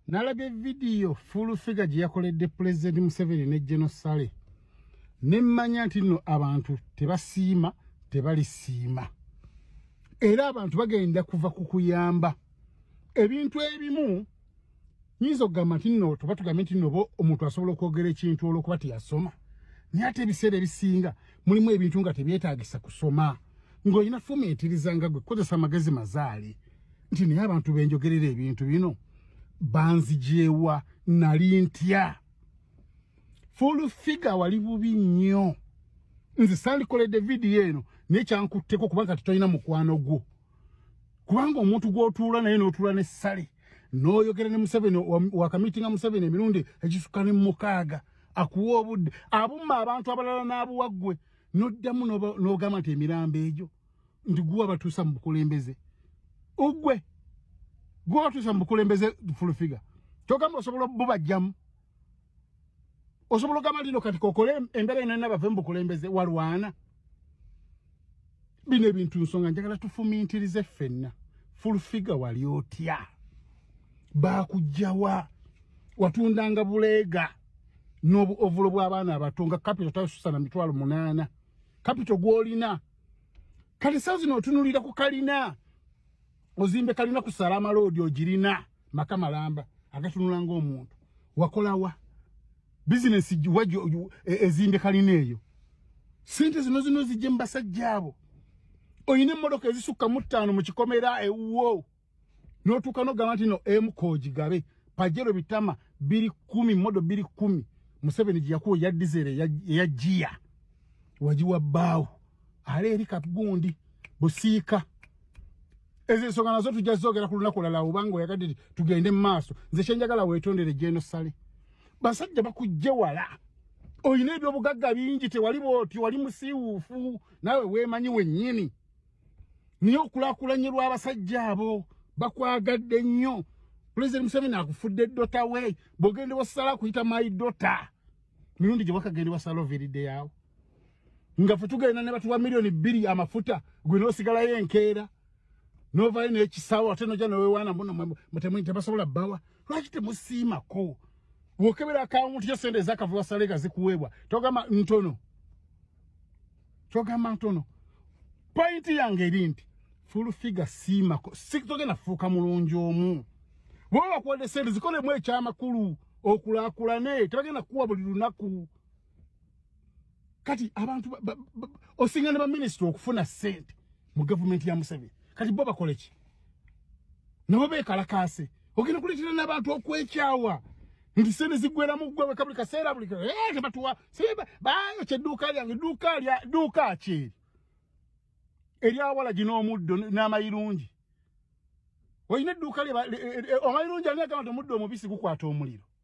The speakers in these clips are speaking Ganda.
nalabye vidiyo full figure gye yakoledde pulezidenti museveni ne genosale ne mmanya nti nno abantu tebasiima tebalisiima era abantu bagenda kuva ku kuyamba ebintu ebimu nyinza okugamba nti nno tuba tugambye nti noba omuntu asobola okwogera ekintu olwokuba teyasoma naye ate ebiseera ebisinga mulimu ebintu nga tebyetagisa kusoma ng'olina fumiitiriza nga gwe kukozesa amagezi mazaale nti naye abantu benjogerera ebintu bino banzijeewa nali ntya full figure wali bubi nnyo nze sandikoledde vidiyo eno naye kyankutteko kubanga titolina mukwano gwo kubanga omuntu gwotuula naye notuula ne sale noyogera ne museveni wakamitinga museveni emirundi ekisuka ne mukaaga akuwa obudde abumma abantu abalala n'abuwa ggwe noddamu n'ogamba nti emirambo egyo nti guwa batuusa mu bukulembeze ogwe guwa batuusa mu bukulembeze fulufiga kyogamba osobola obubajjamu osobola ogamba lino kati kokole embeera ino ena bave mu bukulembeze walwana bino ebintu nsonga njagala tufumintirize ffenna fulufiga wali otya bakujjawa watundanga buleega n'obuovulo bw'abaana abato nga kapito tasusa na mitwalo munaana kapito gw'olina kati saa zino otunulira ku kalina ozimbe kalina ku salama loodi ogirina maka malamba agatunula ngaomuntu wakolawa bizinesi wa e, ezimbe kalina eyo sente zino zino zijje mu basajja abo olina emmotoka ezisukka mu ttaano mu kikomera ewuwo notuuka nogamba nti no emkogigabe pajero bitama biri kumi modo biri kumi museveni gyeyakuwa eya dizere eya jiya wagiwa bbaawo ale eri kagundi busiika ezo ensonga nazo tujja zogera ku lunaku lala obanga oyagadde ti tugende mu maaso nze kyenjagala weetondere jeno sale basajja bakujje wala olina ebyobugagga bingi tewali bwoti wali musiiwuufu nawe weemanyi wennyini naye okulakulanye lw'abasajja abo bakwagadde nnyo pulezidenti museveni akufudde dota we bwogende wasala kuyita my dota mirundi gye wakagende wasala oviridde yaawo nga fe tugenda ne batuwa miliyoni bbiri amafuta gwe n'osigalayo enkeera novayo n'ekisawo ate noja newewaana muno mutemunyi tebasobola bbawa lwaki temusiimako wokebera akawunti yo sente ezakavulwa salega zikuweebwa togamba ntono kyogamba ntono pointi yange eri nti fulufiga siimako sitogenda fuuka mulungi omu bwoba bakuwadde sente zikolemu ekyamakulu okulakulane tebagenda kuwa buli lunaku kati abantu osinga ne baminisita okufuna sente mu gavumenti ya museveni kati bo bakole ki nabo bekalakaase ogenda kuleetera n'abantu okwekyawa nti sente ziggweramu ggwe weka buli kaseera buli eh, tebatuwa bayo kyedduuka lyange dduuka ki eryawala gino omuddo n'amayirungi olina edduuka e, e, e, omayirungi ani agamba ti omuddo omubisi gukwata omuliro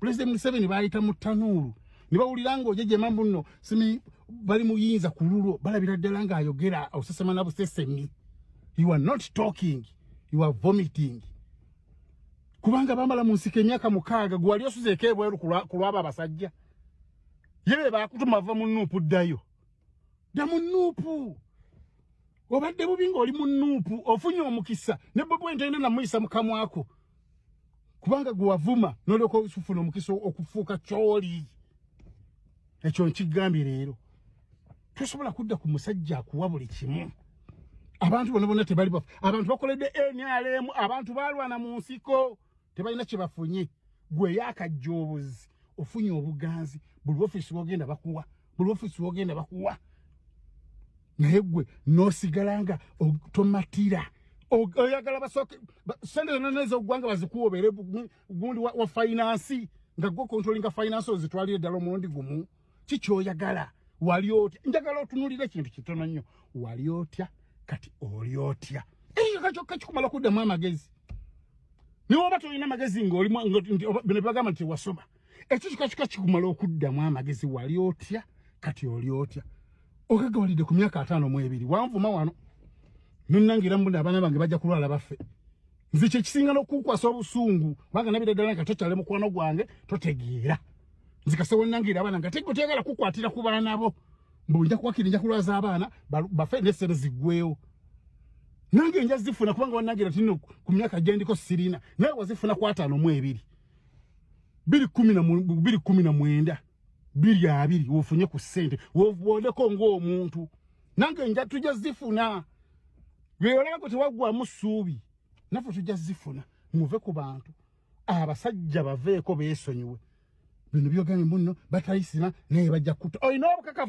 President Museveni bayita mu tanuulu ne bawulira ng'oje gye mambu nno simi bali muyinza ku lulwo balabira ddala ng'ayogera osesema na busesemi you are not talking you are vomiting kubanga bambala mu nsiko emyaka mukaaga gwe wali osuzeeko ebweru ku lwabo abasajja ye be baakutuma va mu nuupu ddayo dda mu nuupu obadde bubi ng'oli mu nuupu ofunye omukisa ne bwe bwentende namuyisa mukamwako kubanga gwe wavuma nolyoka osufuna omukisa okufuuka kyoli ekyo nkigambye leero tosobola kudda ku musajja akuwa buli kimu abantu bona bona tebali bafu abantu bakoledde nrm abantu balwana mu nsiko tebalina kyebafunye gwe yakajja obuzi ofunye obuganzi buli ofisi wogenda bakuwa buli ofiisi wogenda bakuwa naye gwe nosigala nga tomatira oyagala basooke sente zonna nezoggwanga bazikuwa obeere gundi wa fainansi nga gwe kontrolinga fainansi ozitwalire ddala omulundi gumu kikyoyagala wali otya njagala otunulira ekintu kitono nnyo wali otya kati oli otya eyo kakyokka kikumala kuddamu amagezi niwoba tolina magezi ngaoli bino bagamba nti wasoma ekyo kika kika kikumala okuddamu amagezi wali otya kati oli otya okagawalidde ku myaka ataano mu ebiri wanvuma wano nonangira mbuna abaana bange bajja kulwala baffe nze kyekisinga nokukwasa obusungu kubanga nabira ddala nga tokyale mukwano gwange totegeera nzikase wonangira abaana nga tego tegala kukwatira ku baana bo mbu nja kuwakiri nja kulwaza abaana bafe nesente ziggwewo nange nja zifuna kubanga wanangira tino ku myaka gyendiko sirina naye wazifuna kwataano mu ebiri biri kumi na biri kumi na mwenda biri abiri wofunye ku sente wovwondeko ng'omuntu nange nja tujja zifuna lweyolabako tewaggwamu suubi naffe tujja zifuna muve ku bantu abasajja baveeko beesonyiwe bino byogambo nno batayisima naye bajja kutta olina obukakafu